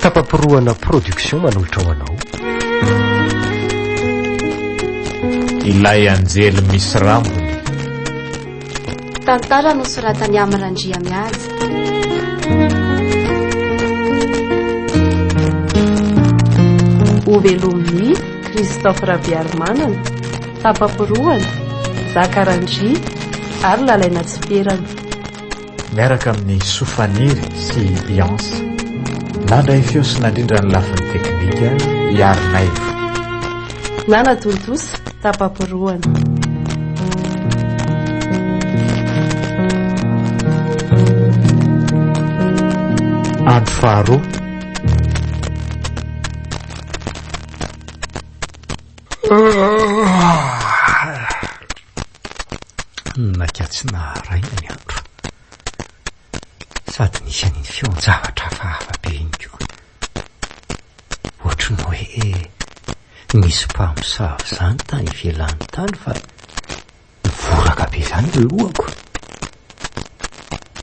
Tapaporohana Production manolotra ho anao. Ilay anjely misy rambony. Tantara nosoratan'i Amy Randriamihaja. Hovelomin'i Christophe Rabearimanana. Tapam-porohana, Zaka Randria ary Lalaina Tsipierana. Miaraka amin'i Soa Faniry sy i Beyonce, nandray feo sy nandrindra ny lafiny teknika i Ary Naivo. Nana tontosa, Tapam-porohana. Andro faharoa. Naika tsy naharaina ny andro, sady nisy an'iny feon-javatra hafahafa be iny koa. Ohatry ny hoe nisy mpamosavy izany tany ivelany tany fa. Mivoraka be zany ny lohako.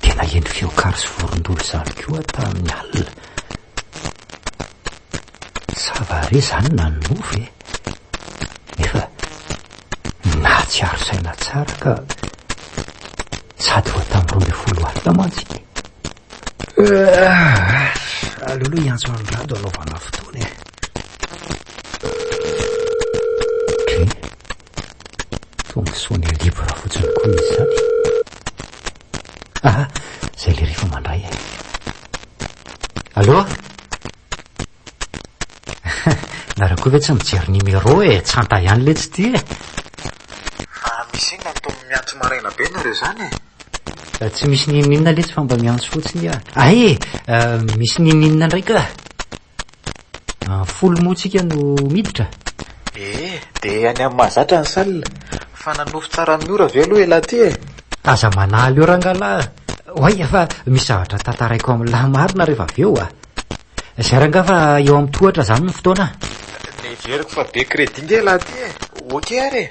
Dia naheno fiokary sy vorondolo izany koa tamin'ny alina. Sa va re zany nanonofy e? Nefa nahatsiaro saina tsara ka sady vao tamin'ny roa ambin'ny folo alina mantsy. Aleo aloha hiantso an'i Rado hanaovana fotoana e. Fonctionner libre fotsiny koa izy izany. Aha, izay ilay rehefa mandray e. Allo? Nareo koa ve tsy mijery numéro e, tsanta ihany le tsy tia e. Fa misy inona no toa miantso maraina be nareo izany e? Eh, tsy misy n'inon'inona letsy fa mba miantso fotsiny aho. Ay e, eh, misy n'inon'inona indray ka. An folo moa tsika no miditra? Ee, dia any amin'ny mahazatra ny salle. Fa nanofy tsara amin'ny ora ve aloha elah ty e? Aza manaly eo rangalahy a! Oay fa misy zavatra tantaraiko amin'ny lahy marina rehefa avy eo a! Zay rangaha fa eo amin'ny tohatra zany ny fotoana a! Neveriko fa be crédit nge elah ty e! Ok ary e!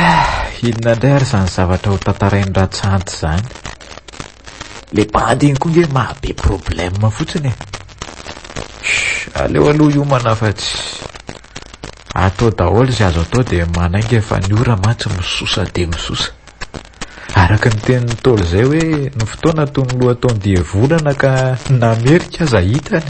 Eh, inona indray ary izany zavatra ho tantarain'i Ratsanty izany? Le bandy iny koa nge mahabe problème fotsiny e. Aleo aloha hiomana fa tsy atao daholo izay azo atao dia manainga fa ny ora mantsy misosa dia misosa. Araka ny tenin'ny Ntaolo izay hoe ny fotoana toy ny loha ataon-dia volana ka namerika aza hitany.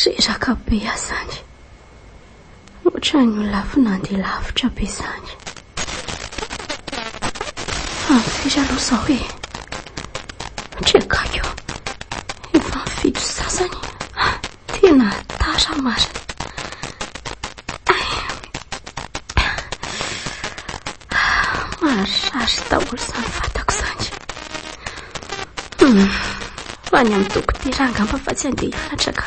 Reraka be azany. Ohatran'ny ho lafo nandeha lavitra be izany. Amin'ny firy aloha izao e? Trekako. Efa amin'ny fito sasany. Tena tara marina. Maharary daholo izany vatako izany. Hmm. Fa ny amin'ny dokotera angamba fa tsy andeha hianatra ka.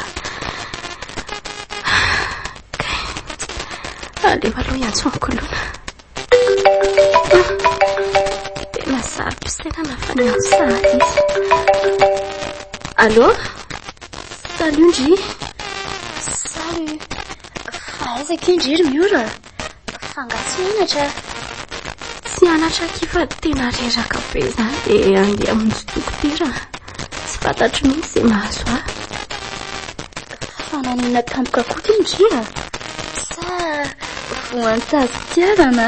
Aleo aloha hiantso ankolona. Tena sary pisainana fa ny ato sahady izy. Allô Salut Ndry. Salut. Fa aiza ke Ndry ry Miora? Fa nga tsy mianatra. Tsy anatra aky fa tena reraka be izany dia andeha hamonjy dokotera. Tsy fantatro mihitsy izay mahazo ahy. Fananina tampoka koa ve ngia? Sa voan-tsazin-tiarana?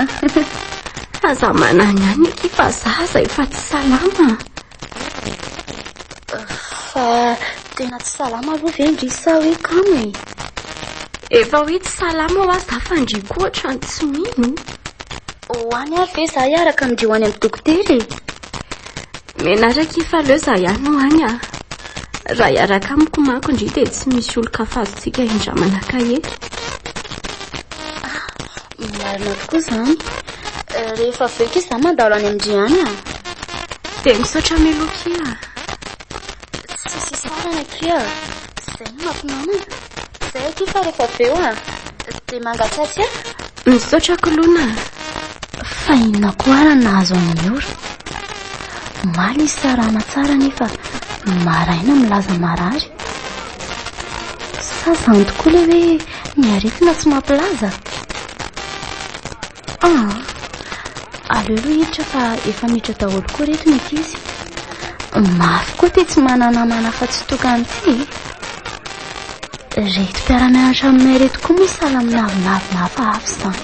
Aza manana ihany aky fa za izay efa tsy salama. Fa tena tsy salama aloha ve ndry sa hoe kamo e? Efa hoe tsy salama ho azy za fa ndry koa ohatrany tsy mino. Ho any ary ve za hiaraka amin'ireo any amin'ny dokotera e? Menaraka i Falleux za ihany no any a! Raha hiaraka amiko manko ndry dia tsy misy olon-kafa azontsika hindramana-ka eto. Marina tokoa izany. Rehefa avy eo kisa za mandalo any amin-dry any a! Dia misaotra Meloky a! Tsisy isarana akia a. Izay no mampinamana. Izay akia fa rehefa avy eo a, dia mangatsiatsy a. Misaotra kolona a. Fa inona koa ary no nahazo an'i Miora? Omaly izy sarama tsara nefa maraina milaza marary. Sa izany tokoa ilay hoe ny aretina tsy mampilaza? Ah, aleo aloha hiditra fa efa miditra daholo koa reto ny ankizy. Mafy koa ty tsy manana namana afa-tsy tokana ty. Reto mpiara-mianatra aminay reto koa moa sahala amin'ny navinavina hafahafa izany.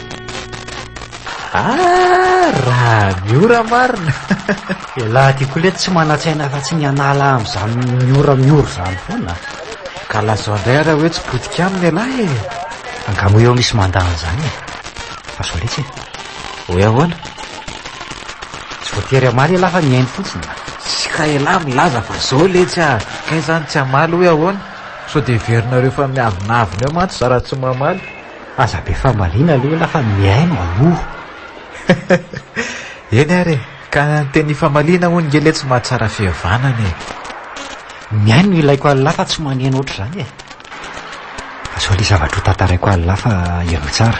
Ah, raha miora marina Elah ty koa le tsy manatsaina fa tsy ny anala amin'izany miora miora izany foana Ka lazao indray ara hoe tsy potika aminy elah e Angamo eo misy mandany izany e Fa sao letsy e Hoe ahoana Tsy voatery amaly elah fa mihaino fotsiny Tsy ka elah milaza fa zao letsy a Kay izany tsy amaly hoe ahoana Sao dia heverinareo fa miavonavona eo mantsy za raha tsy mamaly Aza be famaliana aloha lah fa mihaino aloha. Eny ary e, ka ny teny famaliana hono nge le tsy mahatsara fihavanana e. Mihaino no ilaiko anlah fa tsy maneno ohatr'izany e. Azao le zavatra ho tantaraiko anlah fa ianao tsara.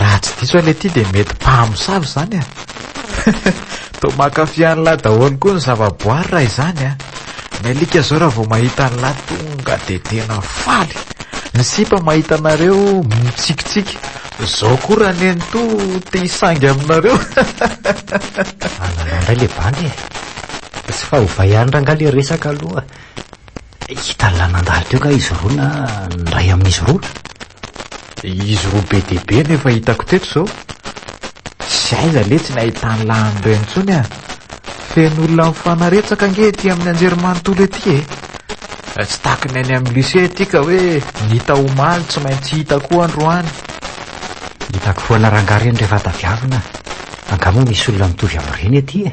Raha tsy diso aho le ty de mety mpamosavy zany a. Toa mankafy an'lah daholo koa ny zavaboary raha izany a. Ny alika zao raha vao mahita an'lah tonga de tena faly. Ny sipa mahita anareo mitsikitsiky. Zao koa raha neny to te hisangy aminareo. Anareo indray le bandy e. Tsy fahovay ihany rangah le resaka aloha. Hita nandalo teo nga izy roa na ny ray amin'izy roa. Izy roa be dia be no efa hitako teto izao. Tsy aiza letsy ny ahitan'ny lahany ireny intsony an! Feno olona mifanaretsaka ange ety amin'ny anjerimanontolo ety e! Tsy tahaka ny any amin'ny lycée ety ka hoe ny hita omaly tsy maintsy hita koa androany. Hitako foana rangahy ireny rehefa tadiavina. Angaha moa misy olona mitovy amin'ireny ety e!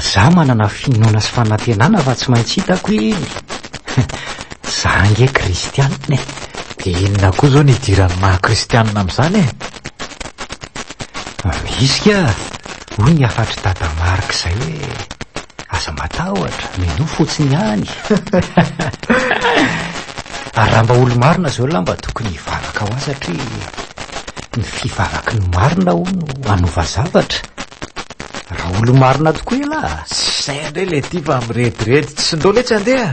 Za manana finoana sy fanantenana fa tsy maintsy hitako i Za ange kristianina e. Dia inona koa izao ny idiran'ny maha kristianina amin'izany e? Misy ka, hoy ny hafatr'i Dada Marc izay hoe aza matahotra, minoa fotsiny ihany. Ary raha mba olo-marina izao lahy mba tokony hivavaka ho azy satria ny fivavaky ny marina hono hanova zavatra. Raha olo-marina tokoa ialahy a! Tsy izay indray ilay tia fa mirediredy, tsy indao letsy andeha a!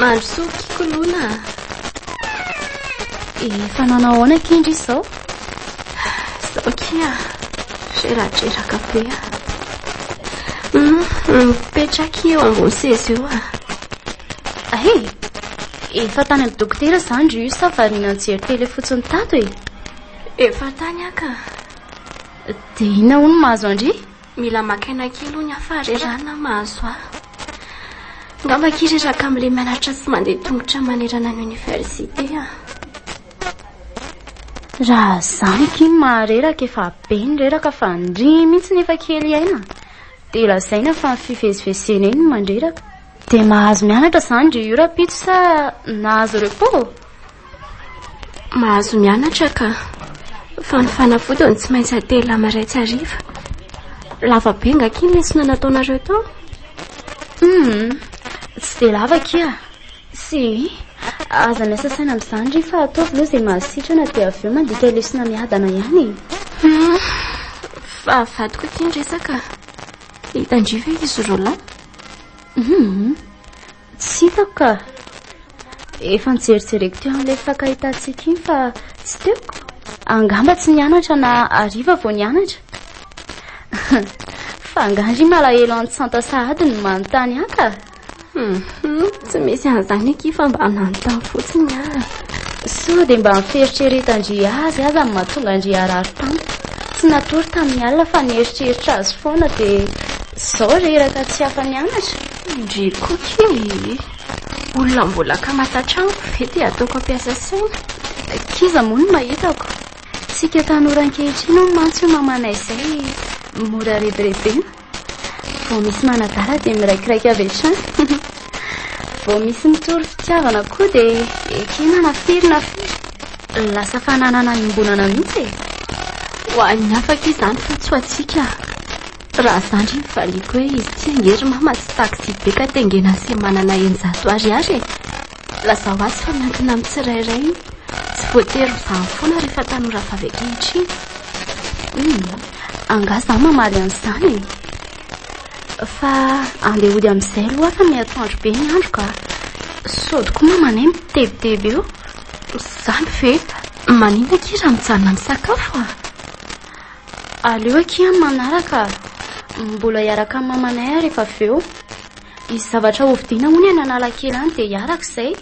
Mandrosoa kikolona a. Efa nanao ahoana akia ndry izao? Izao akia reradreraka be a. Mipetraka eo ambony seza eo a. Ahe, efa tany amin'ny dokotera izany ry sa variana nijery tele fotsiny tato e. Efa tany aka. Dia inona hono mahazo andry? Mila maka aina kely hono aho fa re ra na mahazo ahy. Ngamba akia reraka amin'ilay mianatra sy mandeha tongotra manerana ny oniversite aho. Raha zany akia ny mahareraka efa be ny reraka fa ndry mihitsy ny efa kely aina dia lazaina fa ny fivezivezena eny no mandreraka. Dia mahazo mianatra izany ry Urapitso sa nahazo repos? Mahazo mianatra ka. Fa ny fanafodiny tsy maintsy atelina maraitsy hariva. Lava be nga akia ny lesona nataonareo tao? Hum, tsy dia lava akia. Si, aza miasa saina amin'izany ry fa ataovy aloha izay mahasitrana dia avy eo mandika lesona miadana ihany e. Fa vadiko akia ny resaka. Hitandria ve izy roa lahy? Hmm, tsy hitako ka. Efa nijerijereko teo amin'ilay faka hitantsika iny fa tsy teo. Angamba tsy nianatra na ariva vao nianatra. Fa angandry malahelo antsanta sahady ny manontany haka. Hmm. Tsy misy an'izany akia fa mba manontany fotsiny aho. Sao dia mba ny fieritreretan-dry azy aza no mahatonga an-dry harary tampoka. Tsy natory tamin'ny alina fa nieritreritra azy foana dia izao reraka tsy afa-nianatra. Ndry Koky ee! Olona mbola kamata tranoko ve dia ataoko hampiasa saina? Kiza moa no mahitako. Isika tanora ankehitriny hono mantsy io mamanay izay mora rebirebena. Vao misy manadala dia miraikiraika avy hatrany. Vao misy mitory fitiavana koa dia ekena na firy na firy. Lasa fananana iombonana mihitsy e. Ho an'ny afaka izany fa tsy ho antsika. Raha zandry ny valiako hoe izy tsy angery mama sy taxi be ka tengena sy manana eninjato ariary e. Lazao azy fa miankina amin'ny tsirairay io. Tsy voatery ho zany foana rehefa tanora vavy ankehitriny. Humm, angaha za mamaly an'izany e? Fa andeha hody amin'izay aloha aho fa miatoandro be ny andro ka. Sôdy koa mamanay mitebiteby eo. Zany ve? Maninona akia raha mijanona misakafo a? Aleo akia amin'ny manaraka. Mbola hiaraka amin'ny mamanay aho rehefa avy eo. Hisy zavatra hovidiana hono any Analakely any dia hiaraka izay.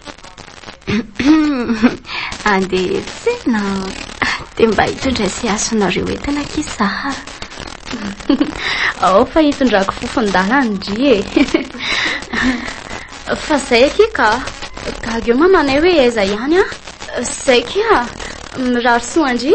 Andeha tsena dia mba hitondra sy hasonareo entana kisa Zahara. Ao fa hitondrako fofon-dalana ndry e. Fa zay akia ka. Gaga eo mamanay hoe aiza ihany a. Zay kia. Mirary soa ndry.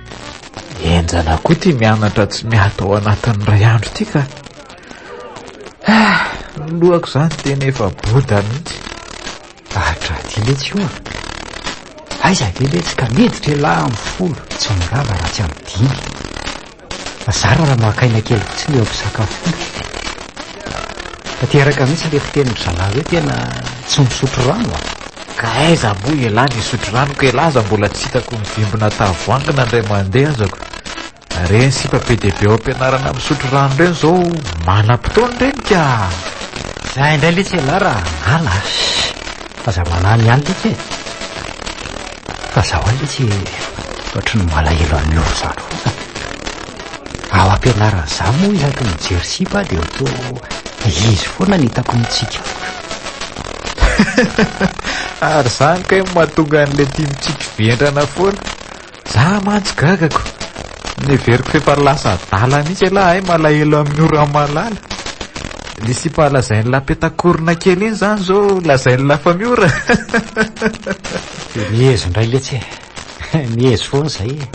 Enjana koa ity mianatra tsy miato ao anatin'ny iray andro ity ka. Ah, ny lohako izany tena efa boda mihitsy. Atra ity letsy io ah. Aiza ve letsy ka miditra elah amin'ny folo tsy mirava raha tsy amin'ny dimy. Fa zara raha maka aina kely fotsiny eo am-pisakafoana. Tanteraka mihitsy ilay fitenin'ny zalahy hoe tena tsy misotro rano ah. Ka aiza moa ialahy ny hisotro rano ka ialahy aza mbola tsy hitako mivimbina tavoahangy na indray mandeha azako. Ireny sipa be dia be ao am-pianarana misotro rano ireny izao manam-potoana ireny ka! Zay indray letsy ialahy raha hanala a! Shh! Aza manahy ihany letsy e! Fa za ho'a letsy ohatry ny malahelo an'i Nofy zany foana. Ao am-pianarana za moa isaky mijery sipa dia toa izy foana no hitako mitsiky. Ary zany kay mahatonga an'le tia mitsiky vendrana foana. Za mantsy gagako. Neveriko f'efa lasa adala mihitsy elah ay malahelo amin'ny ora malala. Le sipa lazain'i la petakorona kely iny zany zao lazain'i la famiora. Mihezo ndray letsy e. Mihezo foana zay e.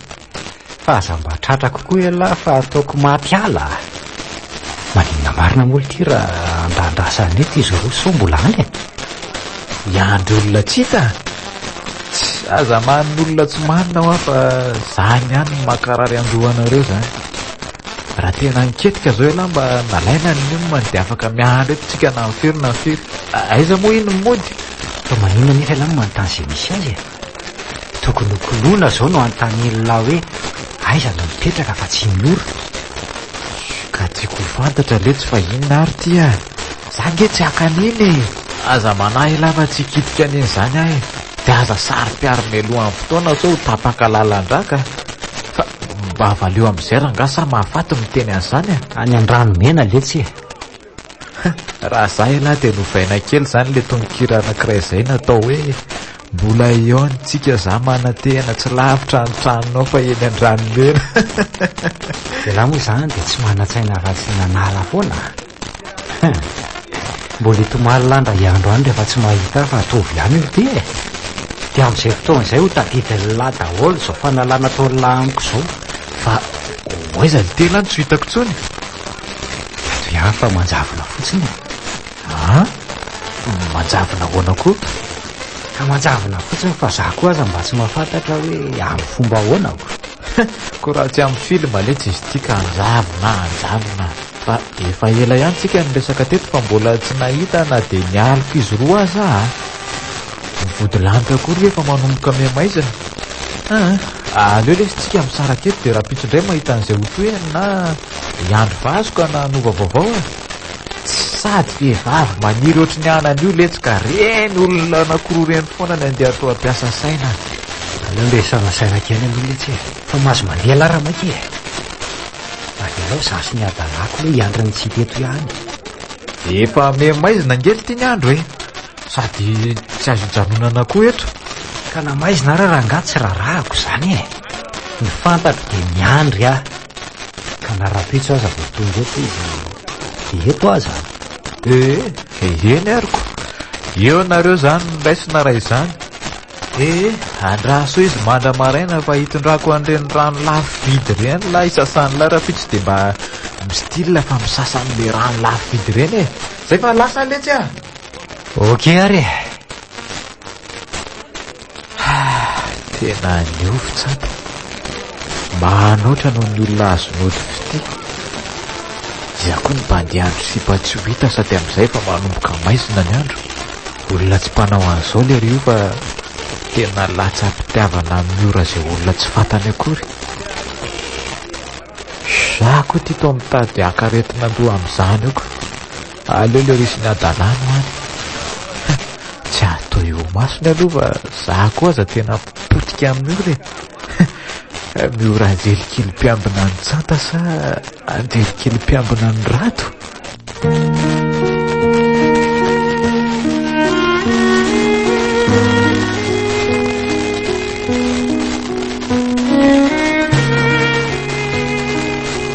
Fa aza mba tratrako koa ialahy fa ataoko maty ala a! Maninona marina moa ity raha andahandrasa any eto izy roa sao mbola any e? Hiandry olona tsy hita? Tss! Aza manin' olona tsy marina hoa fa zany ihany no mankarary an-dohanareo zany. Raha tena niketrika zao ialahy mba nalaina ny nonony dia afaka miandry eto tsika na firy na firy. Aiza moa iny ny mody? Fa maninona nefa ialahy no manontany izay misy azy e? Tokony ho kolona izao no anontanen'lah hoe aiza no mipetraka fa tsy ny ora. Ka tiako ho fantatra anie tsy fa inona ary ity a! Za ange tsy haka an'iny e! Aza manahy elah fa tsy hikitika an'iny izany aho e! Dia aza saro-piaro mialohan'ny fotoana sao ho tapaka lalan-drà ka! Fa mba valio amin'izay rangah sa mahafaty miteny an'izany a! Any an-dranomena letsy e! Raha za ialahy dia novaina kely izany ilay tononkira anankiray izay natao hoe Mbola eo ny tsika za manantena tsy lavitra ny tranonao fa eny an-dranomena. Ialahy moa izany dia tsy manan-tsaina afa-tsy ny an'ala foana. Mbola hitomany lahy ndray andro any rehefa tsy mahita ahy fa hatovo ihany io ity e. Dia amin'izay fotoana izay ho tadidin'ny lahy daholo izao fanalana ataon'ny lahy amiko izao fa ho aiza ny tena no tsy hitako intsony. Ry hafa manjavona fotsiny e. A? Manjavona ahoana koa? Ka manjavona fotsiny fa za koa aza mba tsy mahafantatra hoe amin'ny fomba ahoana aho. Koa raha tsy amin'ny film anie tsy izy ity ka anjavona anjanona fa efa ela ihany tsika niresaka teto fa mbola tsy nahita na dia ny aliko izy roa aza aho. Ny vodilanitra akory ve efa manomboka mihamaizina? Ah, aleo lesy tsika misaraka eto dia rahampitso indray mahita an'izay ho tohiny na hiandry vazo ka na hanova vaovao e. Sady vehivavy maniry ohatry ny anany io letsy ka reny olona anankiroa reny foana ny andeha atao ampiasa saina. Aleo resahana saina kely aloha letsy e. Fa mahazo mandeha lara maika e. Avelao izaho sy ny hadalahako aloha hiandry ny tsy hita eto ihany. Efa mihamaizina ange ity ny andro e. Sady tsy azo ijanonana koa eto. Ka na maizina ara rangaha tsy rarahako izany e. Ny fantako dia miandry aho. Ka na rahampitso aza vao tonga eto izy dia eto aho izany. Ee, eny ary ko. Eo nareo izany no raisina raha izany. Ee, andraso izy mandra maraina fa hitondrako an'ireny rano lafo vidy ireny lahy isasan'ilay rahampitso dia mba mi-style fa misasa an'ilay rano lafo vidy ireny e. Izay fa lasa letsy a! Ok ary e ah, Tena niofo tsapa Mahanoatra noho ny olona azo nody fitia Iza koa ny bandiandro sipa tsy ho hita sady amin'izay fa manomboka maizina ny andro Olona tsy mpanao an'izao lery io fa tena latsa-pitiavana amin'ny ora izay olona tsy fantany akory Za koa tito mitady hakaretina loha amin'izany oko Aleo le risy ny hadalana any fa tsy hatao eo masony aloha fa za koa aza tena potika amin'io re miora anjely kely mpiambina ny tsanta sa anjely kely mpiambina ny rato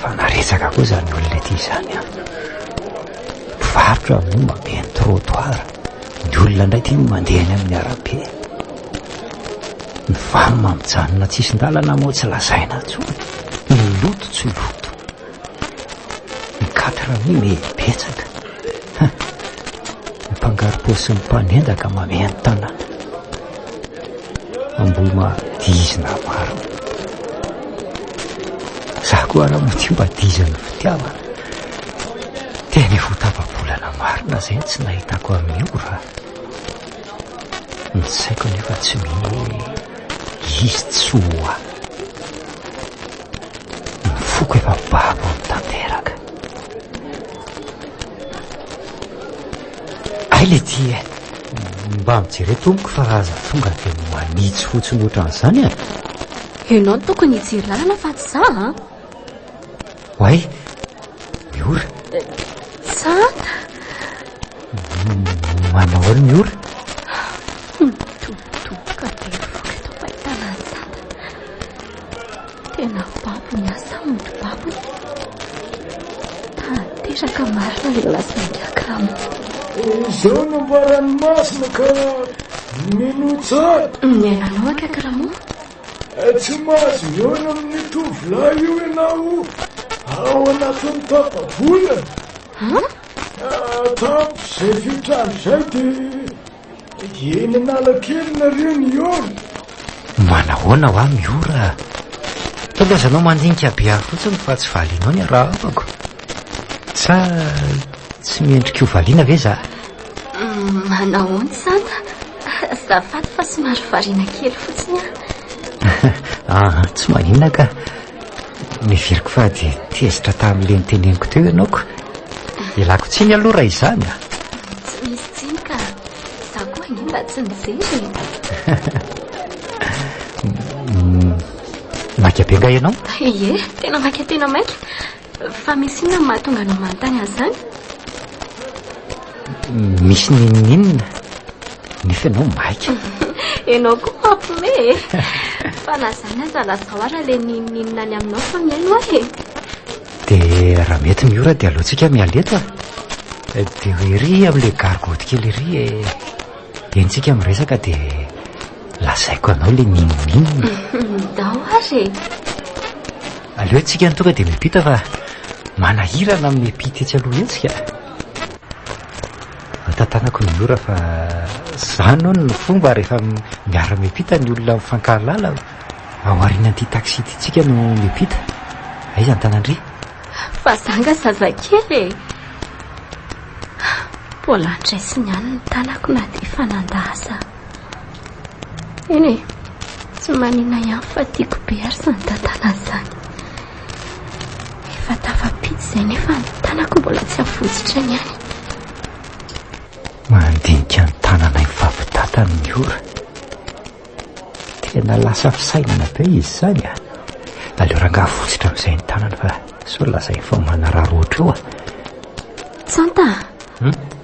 Fa naresaka koa izany olona ity izany an! Mpivarotra moa mameno trottoir, ny olona indray ity no mandeha eny amin'ny arabe. Ny vary ma mijanona an-tsisin-dalana moa tsy lazaina intsony, ny loto tsy loto. Ny quatre mi me betsaka. Ny mpangarom-po sy ny mpanendaka mameno tanana. Ambohima dix na valo Za koa raha madio mba dix ny fitiavana Tena efa tapa-bolana marina zay tsy nahitako an'i Ora Ny saiko nefa tsy mino hoe izy tsy ho ahy Ny foko efa babo mitanteraka Hay le ty e! Mba mijere tompoko fa aza tonga dia manitsy fotsiny ohatran'izany e! Ianao no tokony hijery lalana fa tsy za an! Ah. Oay, miora. Za? Manao ahoana miora? Tena babo ny asa mody babo tanteraka marina le laza ngiakarama. Izao no mba ranomasina ka minoa tsara. Ny ainanao an kakaramo. Tsy mahazo mihaona amin'ny tovolahy io ianao ao anatin'ny tapa-bolana. An? Tamin'izay fetrany izay dia. Eny Analakely nareo Miora. Manahoana hoa Miora? Tokony azanao mandinika be ahy fotsiny fa tsy valianao ny arahabako. Sa tsy mendrika ho valiana ve za? Mm, manahoana izany? Azafady fa somary variana kely fotsiny aho. Ah, tsy maninona ka. Noheveriko fa dia tezitra tamin'ilay noteneniko teo ianao ko. Ialako tsiny aloha raha izany a. Tsy misy tsiny ka. Za koa ange mba tsy nijery e. Maika be nga ianao? Ie, tena maika tena maika. Fa misy inona no mahatonga anao manontany an'izany? Misy n'inon'inona nefa ianao maika. Ianao koa mampime e. Fa na izany aza lazao ara ilay n'inon'inona any aminao fa mihaino aho e. Dia raha mety ny ora dia aleontsika miala eto a. Dia ho ery amin'ilay gargotte kely ery e. Dia entintsika miresaka dia Lazaiko anao le minomin. Midao ary e. Aleo tsika ny tonga dia miampita fa manahirana amin'ny miampita etsy aloha etsy ka. Antantanako ny ora fa zany hono ny fomba rehefa miara miampita ny olona mifankahalala ao aorian'ity taxi ity tsika no miampita. Aiza ny tanandry? Fa za nga zazakely e. Mbola andraisiny ihany ny tanako na dia efa nanda aza. Eny e, tsy manina ihany fa tiako be ary izany tantanany izany. Efa tafampita izay nefa ny tanako mbola tsy avotsitra ny any. Mandinika ny tananay mifampitantana ny ora. Tena lasa fisainana be izy izany a. Aleo rangaha avotsitra amin'izay ny tanana fa sao lazainy fa manararaotra eo a. Tsanta,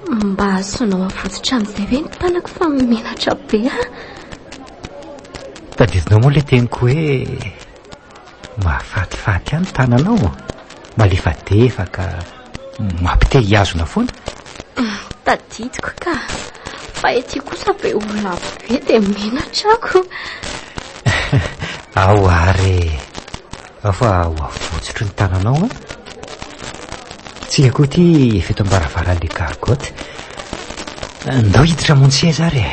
Mba asonao avotsitra amin'izay ve ny tanako fa menatra be aho. Tadidinao moa ilay teniko hoe mahafatifaty ahy ny tananao, malefadefaka, mampite hihazona foana. Tadidiko ka, fa ety kosa be olona be dia menatra ako. Ao ary, Afa ho avotsotro ny tananao an! Tsika koa ity efa eto am-baravaran'ilay gargotte. Ndao hiditra mon seza ary e!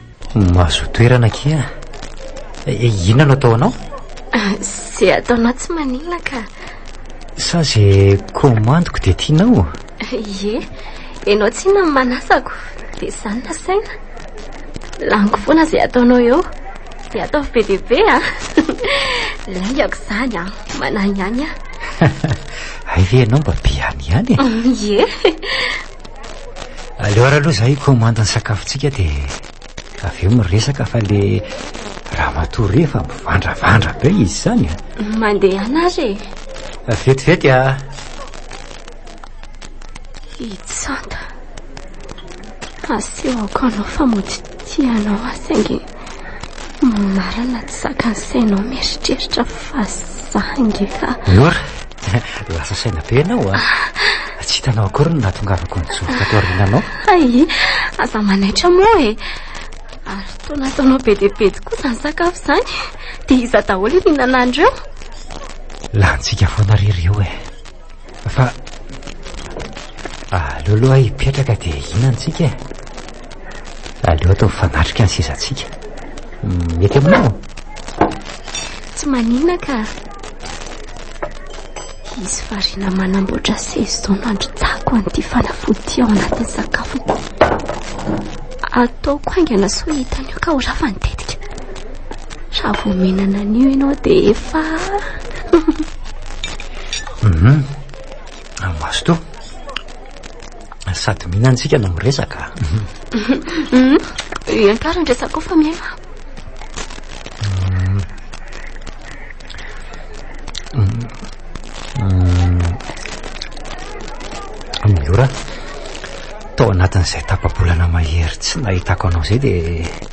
Mahazoa toerana akia. Eh, eh, inona no atao anao? Ah, Zay ataonao tsy maninona ka. Sa zay komandiko dia tianao? Ie, ianao tsy inona ny manasako, dia izany nasaina. Laniko foana izay ataonao eo, dia ataovy be dia be a. Ah. Laingako izany a, ah. manahy ihany a. Hay ve ianao mba be ihany ihany e? Ie. Aleo ary aloha izahay hikomandy ny sakafontsika dia avy eo miresaka fa le ramatoa re fa mivandravandra be izy izany a. Mandehana ary e. Vetivety a. Hitsanta. Asehoko anao fa mody tianao ahy saingy Marina tsy zakan'ny sainao mieritreritra fa za ngeka. Nora, lasa saina be ianao a. Ah. Tsy hitanao akory ny nahatongavako ny jory tato aoriananao. Ay, aza manaitra moa e. Ary toa nataonao be dia be tokoa izany sakafo izany. Dia iza daholo ihinana an'ireo? Lanintsika foana ry ireo e. Fa aleo aloha hipetraka dia hihina antsika e. Aleo atao fanatrika ny sezantsika. Mety aminao? Tsy manina ka. Hisy variana manamboatra seza izao nandrotsako an'ity fanafody ao anatin'ny sakafoko. Ataoko haingana soa hitany io ka ho rafany tetika. Raha vomenana an'io ianao dia efa... Hum, Mazotoa. Sady mihinana isika no miresaka. Hum, Iankarany ny resako fa miaina. Miora, tao anatin'izay tapa-bolana mahery tsy nahitako anao izay dia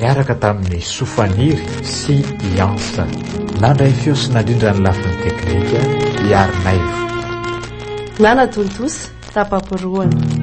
niaraka tamin'i Soa Faniry sy i Hans. Nandray feo sy nandrindra ny lafiny teknika i Arinaivo. Nanatontosa tapa-porohana.